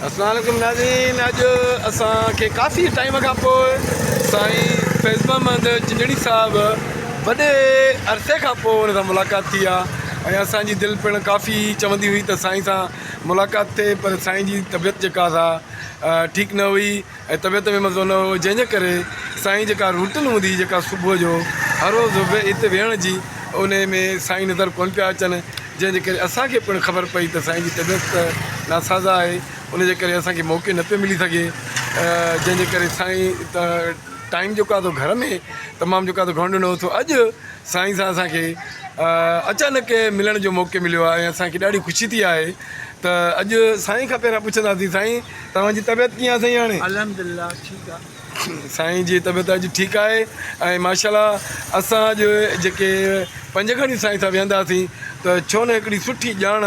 السلام عليڪم ناظرين اڄ اسان کي ڪافي ٽائيم کان پوء سائين فيض محمد چنجڙي صاحب وڏي عرصي کان پوء ان سان ملاقات ٿي آهي ۽ اسان جي دل پڻ ڪافي چوندي هئي ته سائين سان ملاقات ٿئي پر سائين جي طبيعت جيڪا سا ٺيڪ نه هئي ۽ طبيعت ۾ مزو نه هو جنهن جي ڪري سائين جيڪا روٽين هوندي هئي جيڪا صبح جو هر روز اتي ويهڻ جي انهي ۾ سائين نظر ڪونه پيا اچن جنهن جي ڪري اسان کي پڻ خبر پئي ته سائين جي طبيعت ته ناسازا آهي ان جي ڪري اسان کي موقعي نه پيو ملي سگهي جنهن جي ڪري سائين ٽائيم جيڪو آهي سو گهر ۾ تمام جيڪو آهي سو گهڻو ڏنو سو اڄ سائين سان اسان کي اچانڪ ملڻ جو موقعي مليو آهي ۽ اسان کي ڏاڍي خوشي ٿي آهي ته اڄ سائين کان پهريان پڇنداسين سائين توهان جي طبيعت ڪيئن آهي سائين هاڻي. الحمدلله ٺيڪ آ. سائين جي طبيعت اڄ ٺيڪ آهي ۽ ماشاءالله اسان اڄ جيڪي پنج کڻي سائين سان ويهنداسين ته ڇو نه هڪڙي سٺي ڄاڻ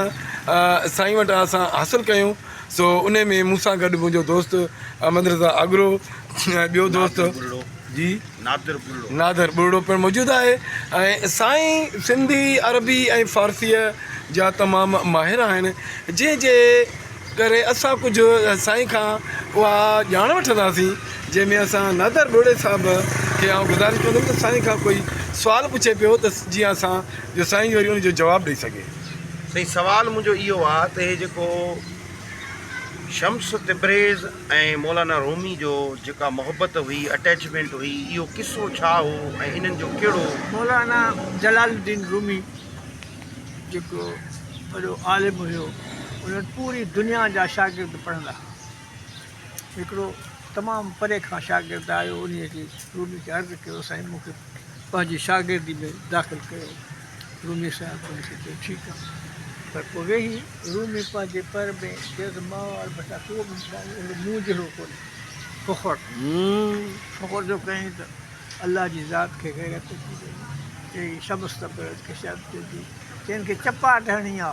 سائين وٽان اسان حاصل ڪيون سو انهي ۾ مون سان گڏ منهنجو دوست احمد رضا آگرو ۽ ٻيو دوست جي نادر ٻرڙو. نادر ٻرڙو پڻ موجود آهي ۽ سائين سنڌي، عربي ۽ فارسيء جا تمام ماهر آهن، جنهن جي ڪري اسان ڪجهه سائين کان اها ڄاڻ وٺنداسين، جنهن ۾ اسان نادر ٻرڙي صاحب کي آئون گذارش ڪندم ته سائين کان ڪوئي سوال پڇي پيو ته جيئن اسان جو سائين جو وري ان جو جواب ڏئي سگهي. سائين سوال منهنجو اهو آ ته هي جيڪو شمس تبريز، ۽ مولانا رومي جو جيڪا محبت هئي، Attachment، هئي، اهو قصو ڇا هو ۽ انهن جو ڪهڙو. مولانا جلال الدين رومي جيڪو وڏو عالم هيو، ان وٽ پوري دنيا جا شاگرد پڙهندا ها. هڪڙو تمام پري کان شاگرد آيو، انهيء کي رومي کي عرض ڪيو سائين مون کي پنهنجي شاگردي ۾ داخل ڪيو. رومي صاحب ان کي چيو، ٺيڪ آ، پر پوء ويهي. رومي پنهنجي پر ۾ چيو ته ماء وارو بٽا ڪو به اهڙو مون جهڙو ڪونهي. فخر فخر ٿو ڪرين ته الله جي ذات کي غيرت اچي وئي. چئي سبس ته پيو ته ڪشادت چئجي. چئن کي چپاٽ هڻي آ.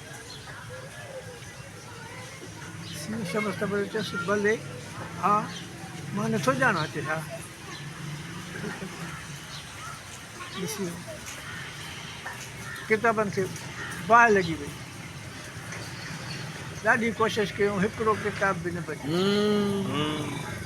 سنڌ شمس تبڙي چيس، بلي ها، مان نه ٿو ڄاڻان ته ڇا ڏسي ويو. ڪتابن کي باهه لڳي وئي. ڏاڍي ڪوشش ڪيون، هڪڙو ڪتاب به نه بچيو.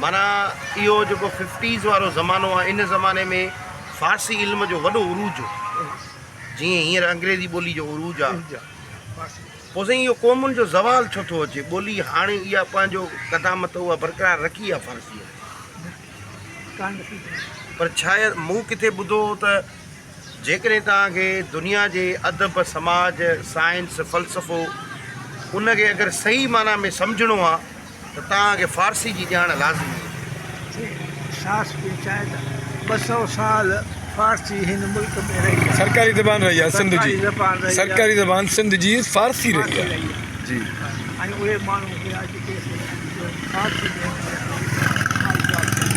معنيٰ اهو جيڪو ففٽيز وارو زمانو آهي ان زماني ۾ فارسي علم جو وڏو عروج هو جيئن هينئر انگريزي ٻولي جو عروج آهي پوء سائين اهو قومن جو زوال ڇو ٿو اچي ٻولي هاڻي اها پنهنجو قدامت اها برقرار رکي آهي فارسيء پر شايد مون ڪٿي ٻڌو هو ته جيڪڏهن توهان کي دنيا جي ادب، سماج، سائنس، فلسفو ان کي اگر صحيح معنيٰ ۾ سمجهڻو آ ته توهان کي فارسي جي ڄاڻ لازمي آ. جي احساس پئي چاهي ته ٻه سؤ سال فارسي هن ملڪ ۾ رهي آ. سرڪاري زبان رهي آ سنڌ جي. سرڪاري زبان سنڌ جي فارسي رهي آ. جي. ۽ اهي ماڻهو هيا جيڪي فارسي ۾ هن ملڪ ۾ آئين پاس ڪيو.